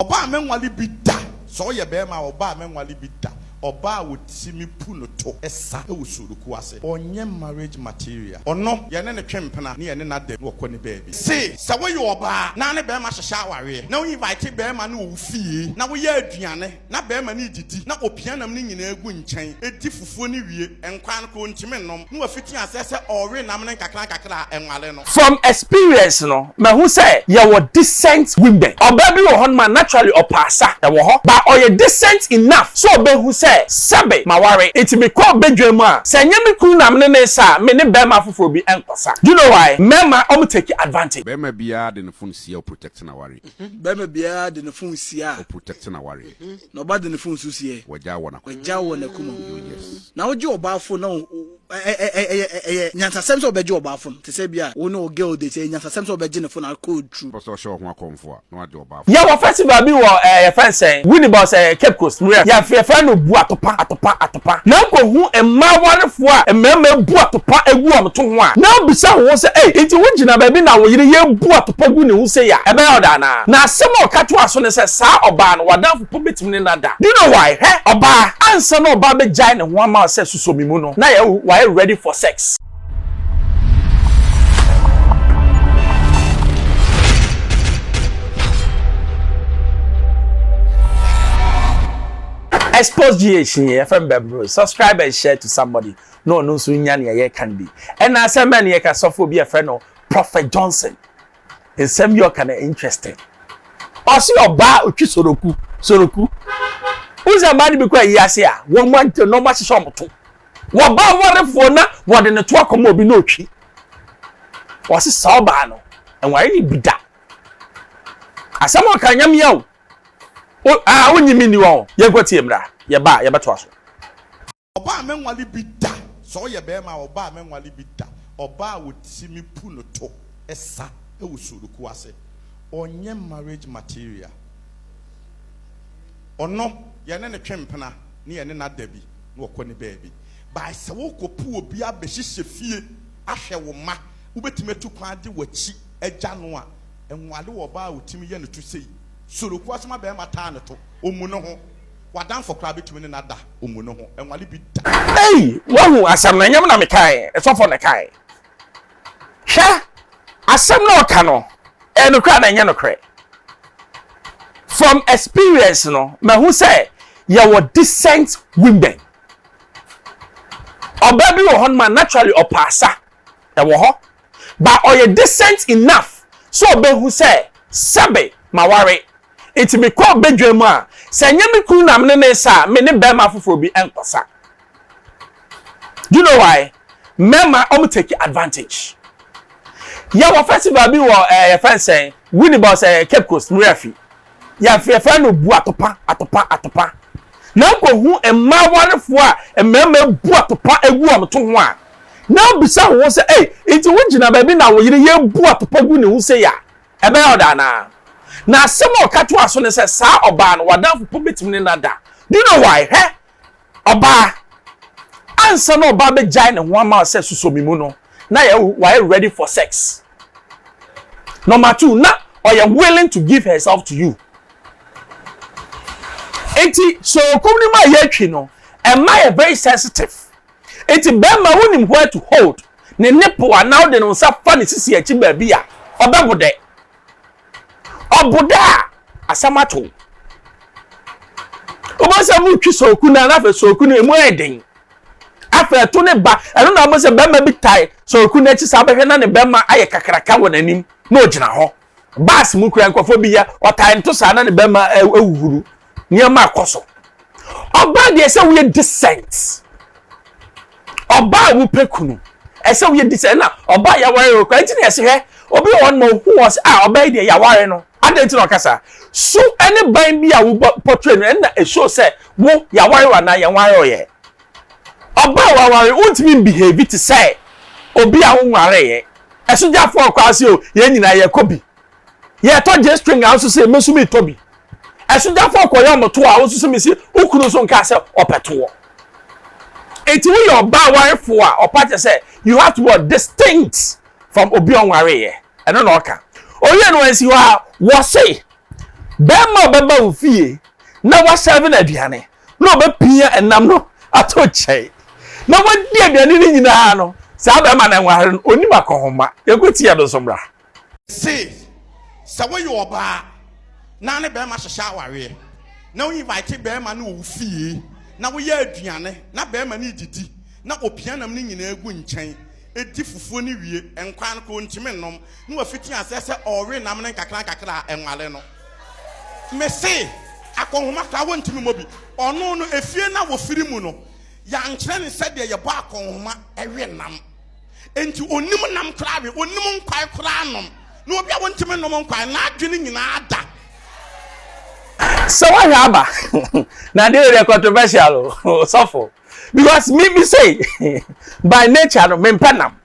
Ɔbaa a mɛnwale bi da. Sɛ ɔyɛ bɛɛma a, ɔbaa a mɛnwale bi da. Ɔbaa a wɔti me pu no to sa wɔ suruku ase. Ɔnyɛ marriage material. Ɔno, yɛne no twe mpena ne yɛne no ada mu na ɔkɔ ne baabi. Se sɛ woyɛ ɔbaa na ne bɛɛma hyehyɛ awareɛ, na wo invite bɛɛma no wɔ wo fie, na woyɛ aduane na bɛɛma no redidi, na opia nam no nyinaa gu nkyɛn, di fufuo, fuo no wie, nkwan no koraa ontumi nnom, na wafiti aseɛ sɛ ɔrewe nam no nkakrankakra a ɛnware no. From experience no, mahu sɛ yɛwɔ decent women. Ɔbaa bi wɔ hɔ nom a naturally ɔpɛ asa, ɛwɔ hɔ, but ɔyɛ decent enough sɛ ɔbɛhu sɛ sɛbe maware, nti mekɔɔ badwam mu a, sɛ ɛnyɛ me kunu na mene no resa a, mene barima foforɔ bi nkɔsa. Do you know why? Mmarima, wɔn take advantage. Barima biara de ne fon sia, ɔprotɛkte n'aware. Barima biara de ne fon sia a. Ɔprotɛkte n'aware. na ɔba de ne fon nso sie. Wagyaw wɔ n'akoma mu. Wagyaw wɔ n'akoma mu. Oh yes. Na wogye ɔbaa fon na ɛyɛ nyansasɛm sɛ wobɛgye ɔbaa fon. Te sɛ bi a wo ne wo girl date, ɛyɛ nyansasɛm sɛ wobɛgye ne fon a code tru. Wopɛ sɛ ɔhyɛ wo ho akɔmfo a, na wagye ɔbaa fon. Yɛwɔ festival bi wɔ ɛɛ yɛfrɛ no sɛn? Winnibus ɛɛ Cape Coast, Murray. Yɛfrɛ no Buatopa, Atopa, Atopa. pa, na nkohu mmaa awarefoɔ a mmarima abu atopa agu wɔn to ho a, na bisa wo ho sɛ, Ei, enti wogyina baabi na wo yere rebu atopa gu ne ho sei a, ɛbɛyɛ wo dɛ anaa? Na asɛm a ɔka toaa so ne sɛ, Saa ɔbaa no, w'adamfo mpo bɛtumi ne no ada. Do you know why? Hwɛ, ɔbaa, ansa na ɔbaa bɛgyae ne ho ama wo sɛ sosɔ me mu no, na yɛ, wayɛ ready for sex. Expose GH ni yɛfɛ no bɛboro subscribe and share to somebody na ɔno nso nya nea yɛka no bi ɛna asɛm bɛn na yɛka sɔfo bi yɛfɛ no Prophet Johnson nsɛm bi ɔka na interesting ɔsi ɔbaa otwi soroku soroku wosɛ mmaa no bi kɔ ayi ase a wɔn mu agye na wɔn ahyehyɛ wɔn to wɔba awarefoɔ na wɔde ne to akɔma obi na otwi wɔsi saa ɔbaa no ɛnware ne bi da asɛm ɔka nyamea o O ah wonye me nni wɔn. Yɛnkɔ tie mmra, yɛba a yɛbɛtoa so. Ɔbaa a mɛnwale bi da. Sɛ ɔyɛ bɛɛma a ɔbaa a mɛnwale bi da. Ɔbaa a ɔti me pu no to sa wɔ suruku ase. Ɔnyɛ marriage material. Ɔno yɛne no twe mpena ne yɛne no ada bi na ɔkɔ ne baabi. By sɛ wokɔ pu obi abɛhyehyɛ fie ahwɛ wo mma, wobɛtumi atu kwan de w'akyi agya no a, Nwaale wɔ ɔbaa a otimi yɛ no to sei. Sorokua so ma bɛɛma taa no to. Omu no ho. Wadanfo koraa betumi ne no ada omu no ho. Nwaale bi da. Ei! Wahu asɛm no? Ɛnyɛ me na mekae, sɔfo na ɛkae. Hwɛ! Asɛm no a ɔka no, ɛyɛ nokorɛ anaa ɛnyɛ nokorɛ? From experience no, mahu sɛ yɛwɔ decent women. Ɔbaa bi wɔ hɔ nom a naturally ɔpaasa, Ɛwɔ hɔ. But ɔyɛ decent enough sɛ ɔbɛhu sɛ sɛbe maware. Nti mekɔɔ badwam a, sɛ ɛnyɛ me kunu na me ne no resa a, me ne barima foforɔ bi nkɔsa. Do you know why? Mmarima, wɔn take advantage. Yɛwɔ festival bi wɔ ɛɛ yɛfrɛ no sɛn? Winneba ɔsɛ Cape Coast, Muriafi. Yɛfrɛfrɛ no bu atopa, atopa, atopa. Na wokɔhu mmaa awarefoɔ a mmarima abu atopa agu wɔn to ho a, na wobisa wo ho sɛ, ei, nti wogyina baabi na wo yere yɛbu atopa gu ne ho sei a, ɛbɛyɛ ɔda anaa? Na asɛm a ɔka toaa so ne sɛ, saa ɔbaa no, w'adamfo mpo bɛtumi ne no ada. Do you know why? Hwɛ! Ɔbaa, Ansa na ɔbaa bɛgyae ne ho ama sɛ susɔ me mu no, na wayɛ ready for sex. Number two, na ɔyɛ willing to give herself to you. Enti sɛ okum no mu a yɛatwi no, ɛma yɛ very sensitive. Enti bɛrima wonim where to hold ne nipple anaa wode ne nsa fa ne sisi akyi baabi a, ɔbɛbo dɛ. ɔboda a asɛm ato wo wobɛhu sɛ motwi sooku no na afei sooku no ɛmu ayɛ den afei ɛto ne ba ɛno na wobɛhu sɛ bɛrima bi tae sooku no akyi saa bɛhwɛ na ne bɛrima ayɛ kakraka wɔ n'anim na ɔgyina hɔ baas mu kura nkurɔfoɔ bi yɛ ɔtae nto saa na ne bɛrima awuhuru nneɛma a ɛkɔ so ɔbaa deɛ ɛsɛ woyɛ decent ɔbaa a wopɛ kunu ɛsɛ woyɛ decent ɛna ɔbaa a yɛaware no kora nti na yɛse hwɛ obi wɔ hɔ no ma ohu wɔ sɛ a ɔbaa yi deɛ yɛaware no adɛn nti na ɔka saa so ɛne ban bi a wobɔ portray no ɛna ɛsuo sɛ wo yɛaware wa anaa yɛnware ɔyɛ ɔbaa a waware wontumi mbehave te sɛ obi a wonwareeɛ ɛsogyafoɔ kɔ ase o yɛn nyinaa yɛkɔ bi yɛ tɔ gye string a nso sɛ mesu mi tɔ bi ɛsogyafo akɔyɛ ɔmo to a nso sɛ mesi okunu nso nka sɛ ɔpɛ toɔ eti woyɛ ɔbaa warefo a ɔpa kyɛ sɛ you have to be distinct from obi ɔnware yɛ ɛno na ɔka oyɛ no ɛnsi hɔ a wɔse bɛrima a ɔbɛba wo fie na wasɛve no aduane na ɔbɛpia ɛnam no ato kyɛe na wadi aduane no nyinaa no saa bɛrima na nware no onim akɔhoma yɛkɔtia no nso mmra Se sɛ woyɛ ɔbaa na ne bɛɛma hyehyɛ awareɛ na wo invite bɛɛma no wɔ wo fie na woyɛ aduane na bɛɛma no redidi na opia nam no nyinaa gu nkyɛn di fufuo no wie nkwan no koraa ontimi nnom na wafiti aseɛ sɛ ɔrewe nam no nkakra nkakra a ɛnware no. Mese akɔnhoma koraa wontimi mmɔ bi. Ɔno no efie no a wɔfiri mu no yɛankyerɛ no sɛdeɛ yɛbɔ akɔnhoma we nam. Enti onnim nam koraa we, onnim nkwae koraa nom. Na obi a wontumi nom nkwae, n'adwene nyinaa da. Sɛ wahwɛ aba, na deɛ yɛ controversial o, sɔfo. Because me me say, by nature no, mempɛ nam.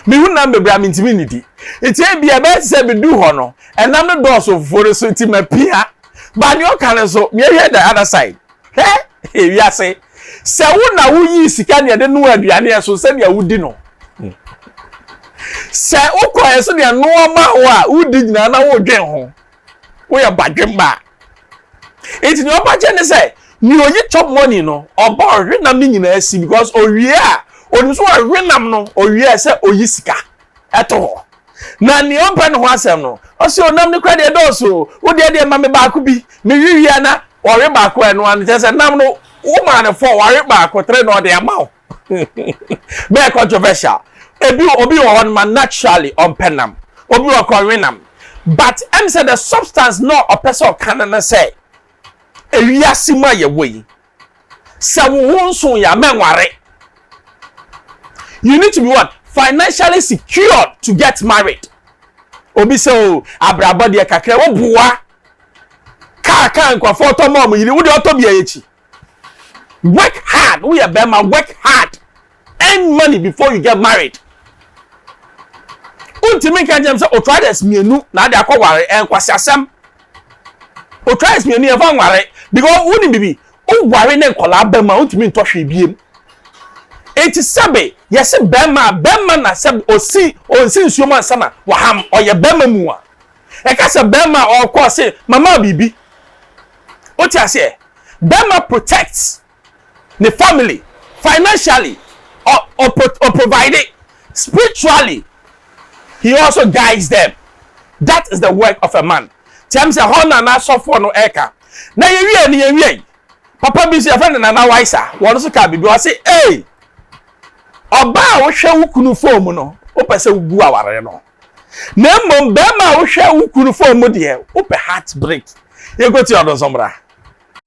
Mehu nam bebree a mentumi nnidi. Nti ebi ɛbɛyɛ te sɛ medu hɔ no, ɛnam no dɔɔso fufuo no so nti mapia. Ba nea ɔka no nso, meyɛhwɛ the other side. Hɛ! Hɛ! Wiase! Sɛ wo na woyii sika nea de noa aduane a ɛso sɛnea wodi no. Sɛ wokɔ ɛ sɛnea noa ma wo a wodi nyinaa na wodwen ho. Woyɛ badwemma. Nti nea ɔba kyɛ ne sɛ nea oyi chop money no ɔba ɔhwenam ne nyinaa si because owie a onim so ɔhwenam no owie a sɛ oyi sika. ɛto hɔ. Na nea ɔmpɛ ne ho asɛm no, ɔse onam no kora deɛ ɛdɔɔso o, wo deɛ deɛ ma me baako bi, me we wie a na wawe baako a ɛno ano, kyerɛ sɛ nam no wo maa no fɔ, wawe baako tere na ɔde ama wo. Bɛyɛ controversial. Ebi obi wɔ hɔ no ma naturally ɔmpɛ nam, obi wɔ kɔ we nam. But ɛm sɛ the substance na ɔpɛ sɛ ɔka no no sɛ ewiase mu a yɛwɔ yi sɛ wo ho nso yɛ a mɛnware you need to be what financially secured to get married obi sɛ o oh, abrabɔ deɛ kakra wo boa kaa kaa nkurɔfoɔ tɔ ma ɔmo yiri wo deɛ ɔtɔ bia yɛ akyi work hard woyɛ bɛrima work hard. Earn money before you get married. Wontumi nka nkyɛn sɛ otraders mmienu na ade akɔ ware ɛn kwasi asɛm. Otraders mmienu yɛn fa nware because wonim bibi woware ne nkɔlaa bɛm a wontumi ntɔ hwee biem. Eti sɛbe yɛse bɛma bɛma na sɛ osi onsi nsuo mu ansa na waham ɔyɛ bɛma mu a ɛka sɛ bɛma ɔkɔ ɔse mama bibi. Wote aseɛ? Bɛma protects ne family financially ɔ ɔpro ɔprovide spiritually he also guides them that is the work of a man kyɛm sɛ hɔ na n'asɔfoɔ no ɛka na yɛwie no yɛwie yi papa bi nso yɛfrɛ no nana waisa wɔn nso kaa biribi ɔse ee ɔbaa a wohwɛ wo kunu fon mu no wopɛ sɛ wogu awareɛ no na mmom bɛrima a wohwɛ wo kunu fon mu deɛ wopɛ heart break yɛnkɔti ɔno nso mmra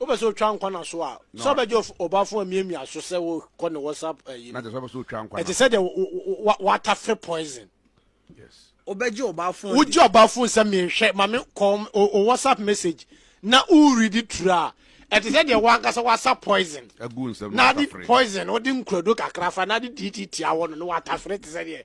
Wopɛ sɛ otwa nkwa na so a, sɛ ɔbɛgye ɔbɔafo amiamia so sɛ wokɔ ne WhatsApp ayi no. Ɛte sɛ deɛ watafe poison. Wobɛgye ɔbɔafo adi. Wogye ɔbɔafo sɛ menhwɛ ma me kɔ o WhatsApp message na woredi turu a ɛte sɛ deɛ wankasa wasa poison. Na de poison wode nkurado kakra fa na de didi tia hɔ no na watafere te sɛ deɛ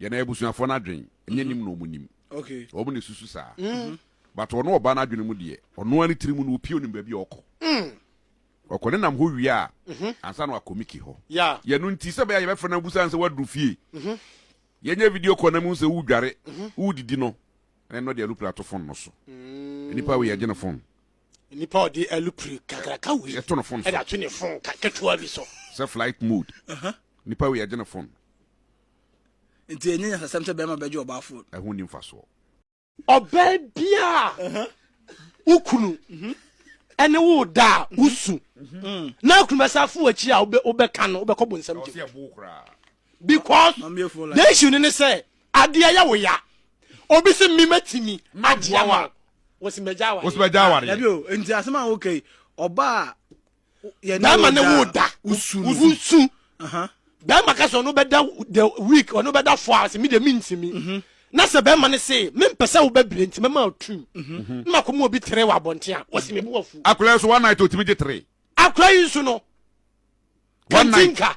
Yɛn abusuafoɔ no adwen nyɛ nim na wɔn nim. Wɔn na ɛsusu saa. But ɔno ɔbaa no adwene mu deɛ, ɔno ara ne tiri mu no ɔpie ɔnim baabi a ɔkɔ. Ɔkɔ ne nam hɔ wie a, ansa na wakɔ Mickey hɔ. Yɛ ɛno nti, sɛ ɛbɛyɛ a yɛbɛfrɛ no na wobusa no sɛ woaduru fie. Yɛnyɛ video call na mehu sɛ woredware, woredidi no, ɛne no de alupire ato phone no so. Nipa wei yɛgye ne phone. Nipa ɔde alupire kakraka wei yɛto no phone so. Ɛde ato ne phone ketewa bi so. Sɛ flight mode. Nipa wei yɛgye ne phone. nti ɛnyɛ nyasasɛm sɛ bɛrima bɛgye ɔbaa fon. ɛho nni mfasoɔ. Ɔbaa biara a wo kunu mhm. ɛne wo da a mhm. wosu mhm. na akunu bɛsa afo w'akyi a wobɛka no wobɛkɔ bonsam gye because the issue no ne sɛ adeɛ yɛ wo ya obi se me matumi agyeɛ wa wɔsi mɛgya awareɛ nti asɛm a wokai ɔbaa bɛrima ne wo da wosu bɛrima ka sɛ ɔno bɛda the week ɔno bɛda four hours mi de mi ntumi mhm. na sɛ bɛrima ne se mempɛ sɛ wobɛbire nti mɛma ɔtu mhm. na makɔma obi tere wɔ abɔnten a wɔsi mebu afu akora yi so one night ɔtumi gye tere akora yi nso no kantinka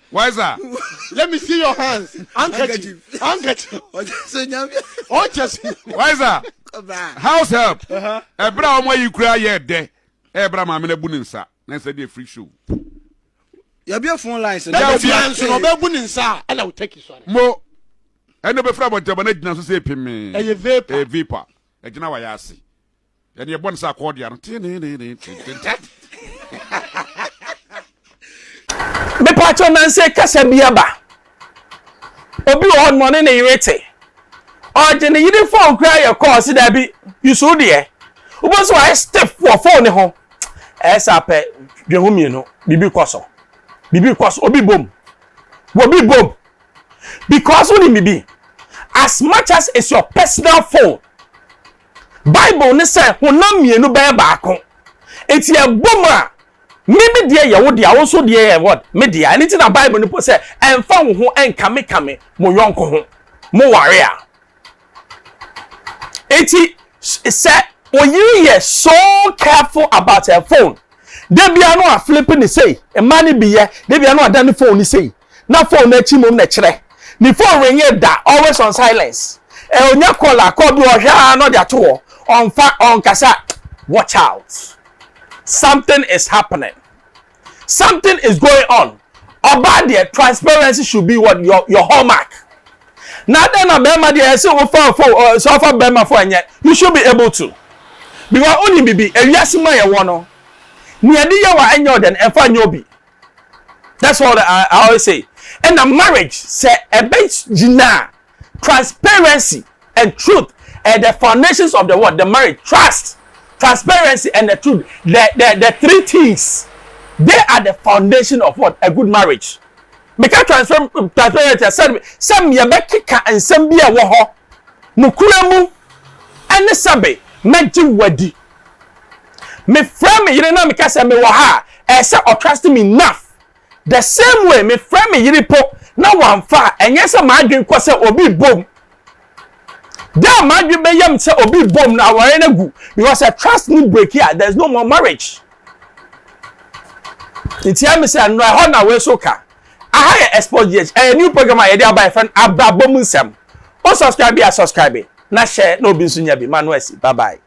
Why is that? Let me see your hands. Handkerchief. Handkerchief. Why is that? House help. Ɛbrɛ a wɔn ayi kura yɛ dɛ. Ɛbrɛ a maame na bu ne nsa. Na nsa deɛ free show. Yɛbi efun lines. Ɛna obi anso na ɔbɛ bu ne nsa. Ɛna o tɛki sɔre. Mo ɛna obe fura abɔntɛbɔ na gyina so sɛ epi mi. Ɛyɛ vapor. Ɛyɛ vapor. Ɛgyina wa yɛ ase. Ɛne ɛbɔ ne sɛ akɔɔdea no mepatwɔ nanse kasa bi aba obi wɔ hɔ nɔne ne yere te ɔgye ne yere fon koraa yɛ kɔɔ se daabi yusu deɛ wobɛ so ayɛ stiff wɔ fon ne ho ɛyɛ sɛ apɛ dwe ho mmienu biribi kɔ so biribi kɔ so obi bom obi bom because wonim biribi as much as it's your personal phone Bible ne sɛ honam mmienu bɛyɛ baako. Enti ɛbɔ mu a, me me deɛ yɛ wo dea, wo nso deɛ yɛ what? Me dea. Ɛno nti na Bible no po sɛ ɛmfa wo ho nkamekame mo yɔnko ho. Moware a. Enti sɛ oyiri yɛ so careful about her phone, da bia no a flip ne sei, mmaa no bi yɛ, da bia no a da ne phone ne sei. na phone no akyi mmom na ɛkyerɛ. Ne phone ringe da, always on silence. Eh, onya call a, call bi ɔhwɛ ara na ɔde ato hɔ. Ɔmfa, ɔnkasa. Watch out. Something is happening. Something is going on. Ɔbaa deɛ, transparency should be what your, your hallmark. Na dɛn na bɛrima deɛ ɛsɛ wofa fo eh, sɛ ɔfa bɛrima fo ɛnyɛ. You should be able to. Because wonim bibi, ewiase mu a yɛwɔ no, nea ɛde yɛ wa ɛnyɛ ɔdɛn, ɛmfa nyɛ obi. that's all I, I always say ɛna marriage sɛ ɛbɛ gyina transparency and truth and the foundations of the world the marriage trust transparency and the truth the the the three things they are the foundation of what a good marriage meka transfer transparency sɛ sɛ yɛbɛkeka nsɛm bi a ɛwɔ hɔ nokura mu ɛne sɛbe mɛgye wadi mefrɛ me yere na meka sɛ mewɔ ha a ɛyɛ sɛ ɔtrust me enough the same way mefrɛ me yere po na wamfa a ɛnyɛ sɛ m'adwene kɔ sɛ obi bom da a m'adwene bɛyam sɛ obi bom na awɔre no agu because sɛ trust no break a there is no more marriage nti ɛmi sɛ nnura ɛhɔ na wei so ka aha yɛ exposure ɛyɛ new program a yɛde aba yɛfɛ no abrabɔ mu nsɛm o subscribe bi a subscribe na hyɛ na obi nso nya bi ma no asi bye bye.